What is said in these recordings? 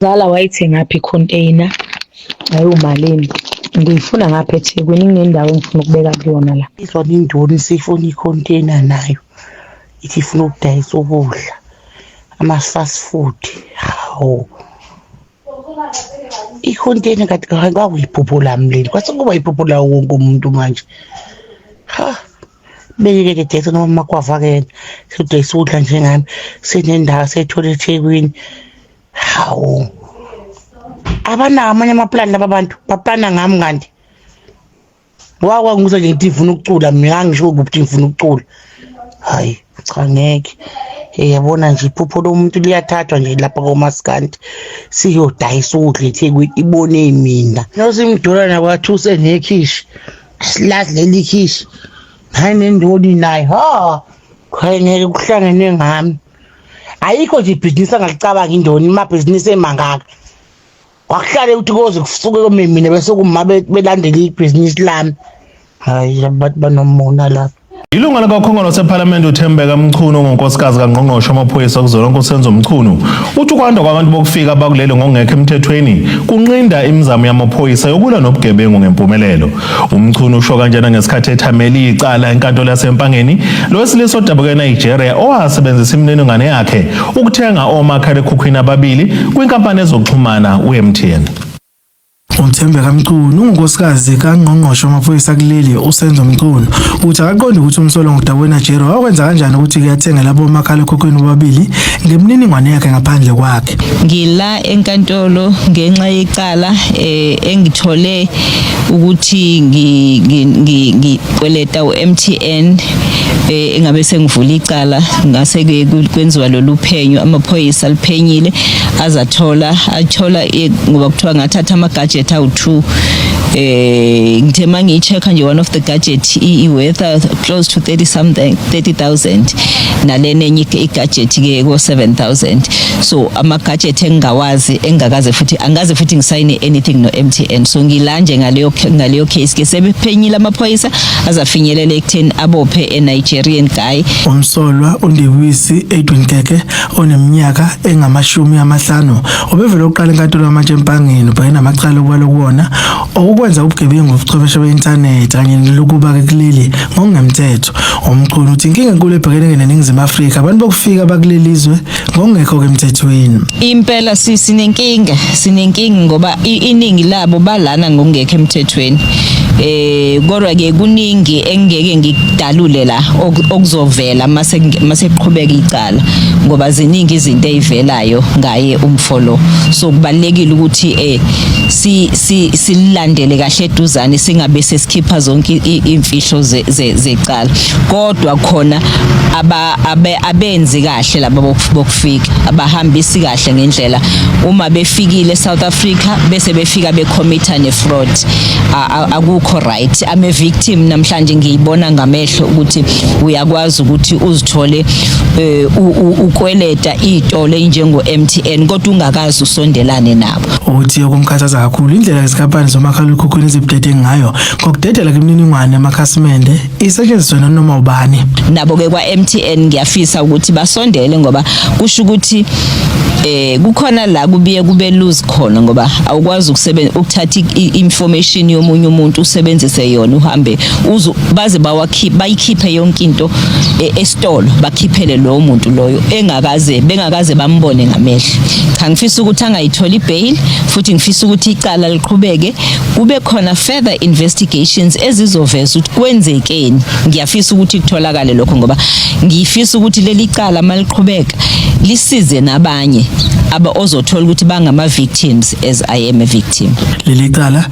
Zala wayithengaphi icontainer ayiwumalini ngiyifuna ngapha ethekwini kunendawo engifuna ukubeka kuyona la izwa nindoni siyifuna icontainer nayo ithi ifuna ukudayisa ukudla ama-fast food hawu icontainer kade kwakuyibhubhula mleni kwase kuba yibhubhula wonke umuntu manje ha beyike ke date noma makwavakela sodwa isudla njengami sinendawo seyithola ethekwini hawu abanawo amanye amaplani laba bantu baplana ngami kanti wakwa ngizwe nje ngithi ngifuna ukucula mina angisho ukuthi ngifuna ukucula hayi cha ngeke yabona nje iphupho lomuntu liyathathwa nje lapha komaskandi siyodayisa ukudla ethekwini ibone mina nosimdolana kwathu usenekhishi Silazi leli khishi. Hayi nendodi naye. Ha. Khayengeke kuhlangene ngami. Ayikho nje ibhizinisi angalicabanga indoni imabhizinisi emangaka. Wakuhlale ukuthi koze kusuke komemina bese kuma belandela ibhizinisi lami. Hayi abantu banomona lapha. Ilunga likakhongolose ephalamende uthembeka mchunu ngonkosikazi kangqongqoshe amaphoyisa kuzolonke usenzo mchunu uthi ukwanda kwabantu bokufika bakuleli ngokungekho emthethweni kunqinda imizamo yamaphoyisa yokulwa nobugebengu ngempumelelo umchunu usho kanjena ngesikhathi ethamele icala enkantolo yasempangeni lo wesilisa odabuka enigeria owasebenzisa imininingwane yakhe ukuthenga omakhalekhukhwini ababili kwinkampani ezokuxhumana u-mtn uMthembeka Mchunu ungunkosikazi kangqongqoshe wamaphoyisa kuleli uSenzo Mchunu uthi akaqondi ukuthi umsolo ngudabona Jero wakwenza kanjani ukuthi kuyathenga labo makhalekhukhwini bobabili ngemininingwane yakhe ngaphandle kwakhe ngila enkantolo ngenxa yecala eh, engithole ukuthi ngikweleta uMTN eh, engabe sengivula icala ngase kwenziwa lolu phenyo amaphoyisa liphenyile azathola athola eh, ngoba kuthiwa ngathatha ama-gadget awu-two eh ngithe uma ngiyi-check-a nje one of the gadget i-weather close to 30 something 30000 nalena enye i-gadget-ke ko-7000 so ama-gadget engingawazi engingakaze futhi angikaze futhi ngisayine anything no-m t n so ngila nje ngaleyo ngaleyo case ke sebephenyile amaphoyisa azafinyelela ekutheni abophe e-nigerian guy Umsolwa uNdewisi Edwin Keke oneminyaka engamashumi amahlanu obevele uqala enkantolo yamatshe empangeni ubheke namacala okwalo kuwona okukwenza ubugebengu ubuchwepheshe be-inthanethi kanye nelokuba-ke kuleli ngokungemthetho umchunu uthi inkinga enkulu ebhekene neningizimu afrika abantu bokufika bakuleli zwe ngokungekho-ke emthethweni impela sinenkinga sinenkinga ngoba iningi labo balana ngokungekho emthethweni eh kodwa ke kuningi engeke ngikudalule la okuzovela mase mase kuqhubeka icala okokuqala ngoba ziningi izinto ezivelayo ngaye umfo lo so kubalekile ukuthi eh si silandele kahle eduzane singabe sesikhipha zonke imfihlo zecala kodwa khona aba abenzi kahle laba bokufika abahambisi kahle ngendlela uma befikile South Africa bese befika becommitta ne fraud akukho right ame victim namhlanje ngiyibona ngame amehlo ukuthi uyakwazi ukuthi uzithole eh, ukweleta izitolo enjengo MTN kodwa ungakazi usondelane nabo uthi okumkhathaza kakhulu indlela izinkampani zomakhalekhukhwini ezibudede ngayo ngokudedela kwimininingwane yamakhasimende isetshenziswe nanoma ubani nabo ke kwa MTN ngiyafisa ukuthi basondele ngoba kusho ukuthi eh kukhona la kubiye kube lose khona ngoba awukwazi ukusebenza ukuthatha information yomunye umuntu usebenzise yona uhambe uzu baze bawakhiphe bayikhiphe yonke into e, esitolo bakhiphele lowo muntu loyo engakaze bengakaze bambone ngamehlo cha ngifisa ukuthi angayitholi bail futhi ngifisa ukuthi icala liqhubeke kube khona further investigations ezizoveza ukuthi kwenzekeni ngiyafisa ukuthi kutholakale lokho ngoba ngifisa ukuthi leli cala maliqhubeka lisize nabanye aba ozothola ukuthi bangama victims as I am a victim leli cala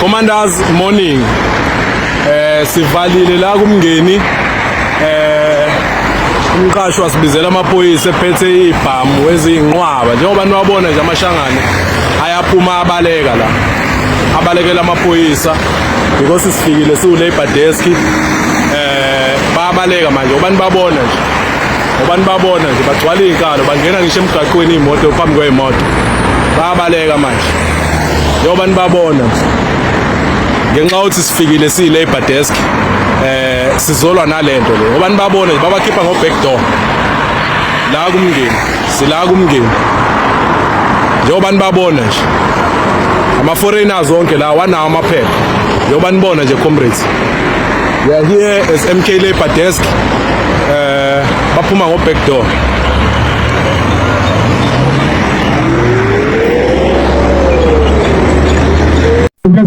Commanders morning eh sivalile la kumngeni eh umqashi wasibizela amaphoyisa ephethe ibhamu ezinqwaba njengoba niwabona nje amashangane ayaphuma abaleka la abalekela amaphoyisa because sifikile siwu labor desk eh babaleka manje ubani babona nje ubani babona nje bagcwala izinkalo bangena ngisho emgaqweni imoto phambi kwemoto babaleka manje njengoba nibabona ngenxa yokuthi sifikile siyi-labor desk eh sizolwa nalento le ngoba nibabone babakhipha ngo-back door la kumngeni sila kumngeni njengoba nibabona nje ama-foreigners onke la wanawo amaphepha njengoba nibona nje comrades we are here as mk labor desk eh baphuma ngo-back door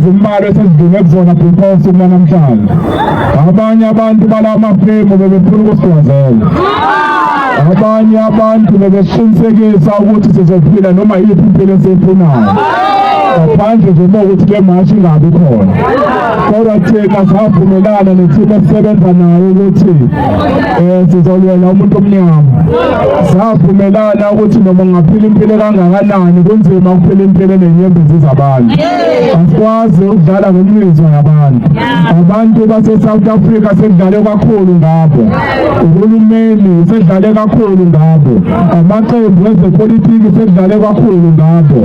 izimbalwa esizidinge kuzona bhikhosi kunanamhlanje abanye abantu bala mafemu bebefuna ukusigwazela abanye abantu bebesiqinisekisa ukuthi sizophila noma yiphi impilo esiyifunayo ngaphandle nje uma ukuthi le mashi ingabi khona kodwa thina savumelana nethimba esisebenza nayo ukuthi um sizolwela umuntu omnyama savumelana ukuthi noma ungaphila impilo kangakanani kunzima ukuphila impilo enenyembezi zabantu asikwazi ukudlala ngemizwa yabantu abantu base-south africa sekudlale kakhulu ngabo uhulumeni sekudlale kakhulu ngabo amaqembu ezepolitiki sekudlale kakhulu ngabo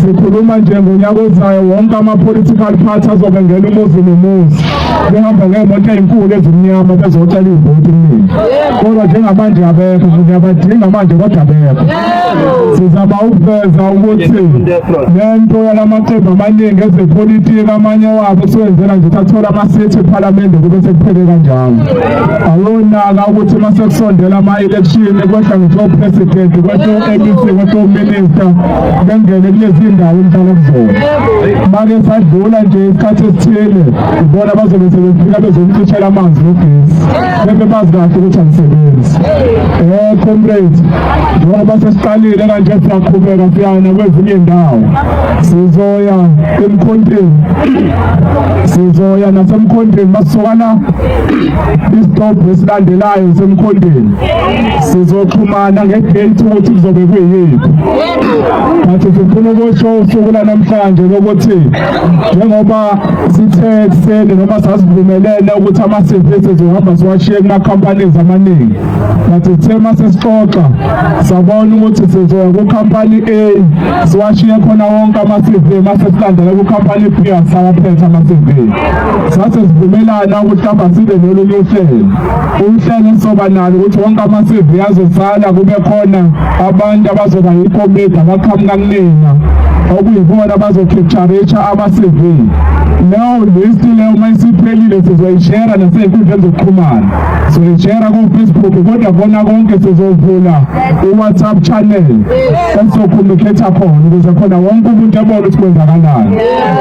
sikhuluma nje ngonyaka ozayo wonke ama-political party azobengena umuzi nomuzi behamba ngeemoto ezinkulu ezimnyama bezocela ivoti kuningi kodwa njengamanje abekho ngiyabadinga manje kodwa abekho sizama ukuveza ukuthi le nto yala maqembu amaningi ezepolitiki amanye wabo siwenzela nje sathola amasithi ephalamende kube sekuphele kanjalo awonaka ukuthi uma sekusondela ama-election kwehla ngisophuresidenti kwehla u-mec kwehla uminista bengene kulezi ndawo engihlala kuzona make sadlula nje isikhathi esithile ibona bazobe sebefika bezomcishela amanzi nogesi bebe bazi kahle ukuthi angisebenzi um comrade njengoba sesiqalile kanje siyaqhubeka siyana kwezinye ndawo sizoya emkhonteni sizoya nasemkhonteni masisukana isitobhu esilandelayo semkhonteni sizoxhumana ngedate ukuthi kuzobe kuyini but sifuna ukusho usuku lanamhlanje lokuthi njengoba sithe ekuseni noma sasivumelene ukuthi ama-cv sizohamba siwashiye kuma-companies amaningi but sithe uma sesixoxa sabona ukuthi sizoya kukhampani a siwashiye khona wonke ama-cv uma sesilandela kukhampani b asawaphetha ama-cv sase sivumelana ukuthi hamba sibe nolunye uhlelo uhlelo esizoba nalo ukuthi wonke ama-CV azosala kube khona abantu abazoba yikomidi abaqhamuka kunina okuyibona abazokhetharatsha ama-CV leyo list leyo uma isiphelile sizoyishera nasey'nkundleni zokuxhumana sizoyishera kofacebook kodwa kona konke sizovula i-whatsapp channel esizokhona ukhetha khona ukuze khona wonke umuntu ebone ukuthi kwenzakalani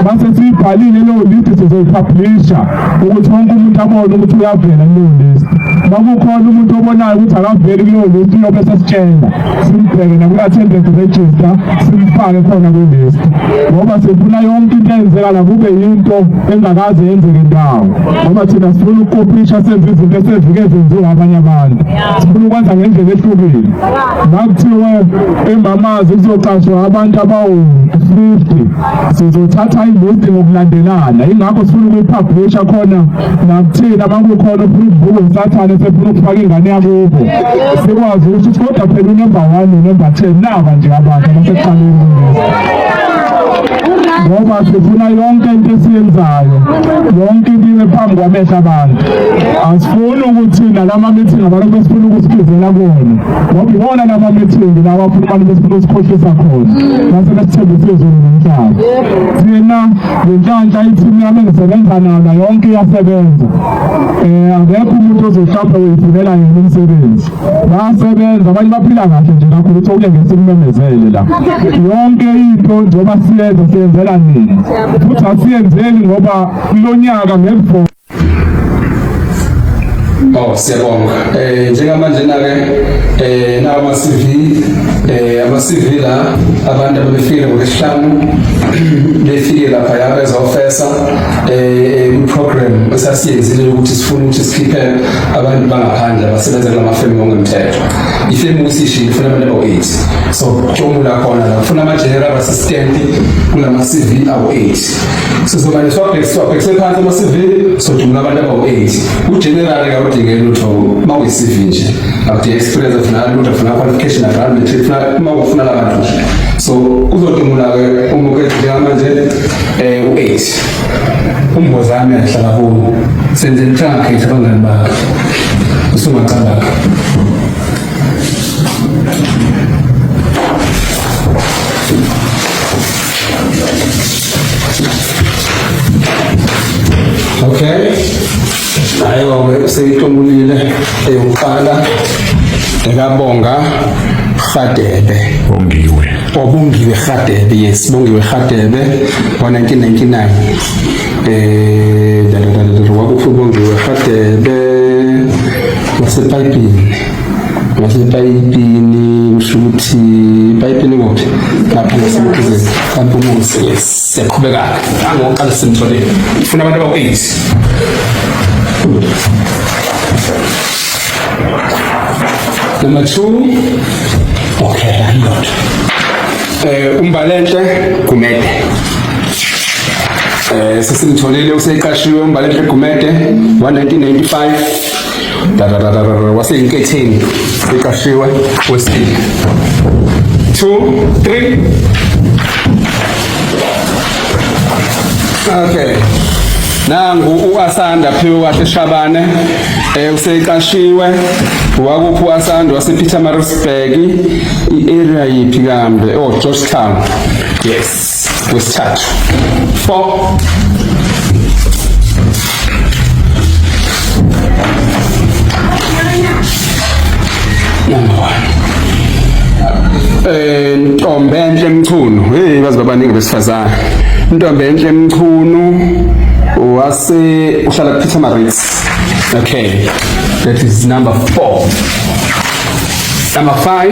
mase siyibhalile leyo list sizoyipublisha ukuthi wonke umuntu abone ukuthi uyavela kuleyo list makukhona umuntu obonayo ukuthi akaveli kuleyo list uyobe sesitshela simbheke naku-attendance register simfake khona kwilist ngoba sifuna yonke into eyenzekala kube yinto engakaze yenzeke ndawo ngoba thina sifuna ukukopisha senze izinto esezike zenziwa abanye abantu sifuna ukwenza ngendlela ehlukile nakuthiwe embamazi kuzoqashwa abantu abawu-fifty sizothatha ilist ngokulandelana ingakho sifuna ukuyiphabhusha khona nakuthina makukhona ufuna ukuvuka usathane sefuna ukufaka ingane yakubo sikwazi ukuthi kodwa phela unumber one nonumber ten naba nje abantu abasekuqaleni ngoba sifuna yonke into esiyenzayo yonke into ibe phambi kwamehla abantu asifuni ukuthi nalama-meeting abantu besifuna ukusikhizela kona Ngokubona laba methimbi lawa futhi abantu besifuna usikhohlisa khona base besithembisa izulu nomhlaba. Thina ngenhlanhla ithimu yami engisebenza nalo yonke iyasebenza. Eh akekho umuntu ozohlapha uyifunela yena umsebenzi. Basebenza abanye baphila kahle nje nakho ukuthi okuyengeza ukumemezele la. Yonke into njengoba siyenza siyenzela nini. Futhi asiyenzeli ngoba kulonyaka ngekuvona Oh siyabonga. Eh njengamanje na ke eh nawo ama CV eh ama CV la abantu abafike ngokuhlanu befike lapha ya bezofesa eh program esasiyenzile ukuthi sifuna ukuthi sikhiphe abantu bangaphandle abasebenza kulama firm ngokungemthetho. Ifirm usishile ifuna abantu abawu-8. So kucomula khona la. Ufuna ama general assistant kulama CV awu-8. sizomane siwabhekise phansi ama-cv sodumula abantu abawu-eight ugenerali kawudingeli lutho uma uyi-cv nje akudinga experience afuna lutho afuna qualification afuna matric funa uma ufuna labantu nje so kuzodumula-ke umukethe njengamanje um u-eight umbozami ahlala kuwo senze lithangakhetha abangani bakhe usungacabanga Okay. Ayo-ke useyihlomulile eyokuqala ekabonga Rhadebe. Bongiwe. Obongiwe Rhadebe, yes, Bongiwe Rhadebe ngo-1999. Eh, da da da da, wakuphi uBongiwe Rhadebe? Wasepayipini. ngasepayipini usho ukuthi ipayipini kuphi lapho ngasemkhize kampumuzi siyaqhubeka-ke angokuqala simtholile funa abantu abawu-eight number two okay landlord um eh, umbalenhle gumede um eh, sesimtholile useqashiwe umbalenhle gumede wa-1995 Dadadadadada, waseyinketheni iqashiwe wesibili two three okay nangu uasanda phiwe wakhe shabane eh useqashiwe wakuphi uasanda wasepetermaritzburg i-area yiphi kambe oh georgetown yes wesithathu 4 number 1 eh ntombe enhle emchunu hey bazi babaningi besifazana ntombe enhle emchunu wase uhlala kuphitha ama rates okay that is number 4 number 5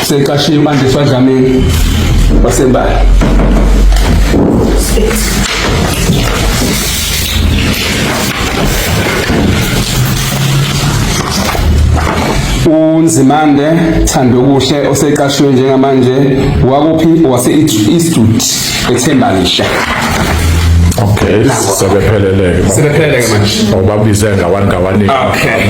Seqashe impande swadlameni wasembali. uNzimande Thandokuhle oseqashwe njengamanje wakuphi wase-Eastwood eThembalisha Okay, sebepheleleke. Sebepheleleke manje. Ngoba bize ngawangawanika. Okay.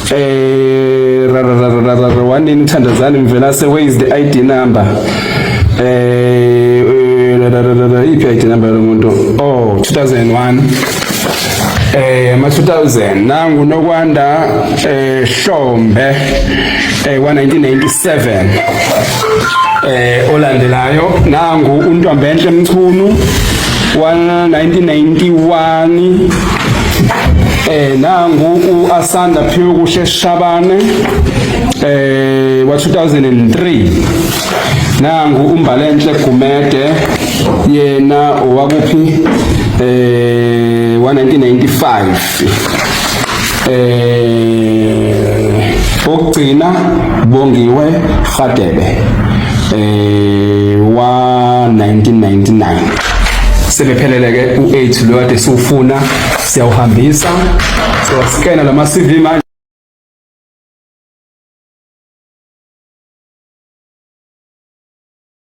eh rarararara wanini thandazani mvelase where is the id number eh, eh rarararara iphi id number yomuntu oh 2001 eh ma 2000 nangu nokwanda eh Hlombe eh 1997 eh olandelayo nangu uNtombenhle Mchunu 1991 eh nangu uAsanda Phiwe kuhle Shabane eh wa 2003 nangu uMbalenhle Gumede yena owakuphi eh wa 1995 eh okugcina bongiwe Radebe eh wa 1999 sebephelele ke u8 lo kade siwufuna siyawuhambisa so scanner lama CV manje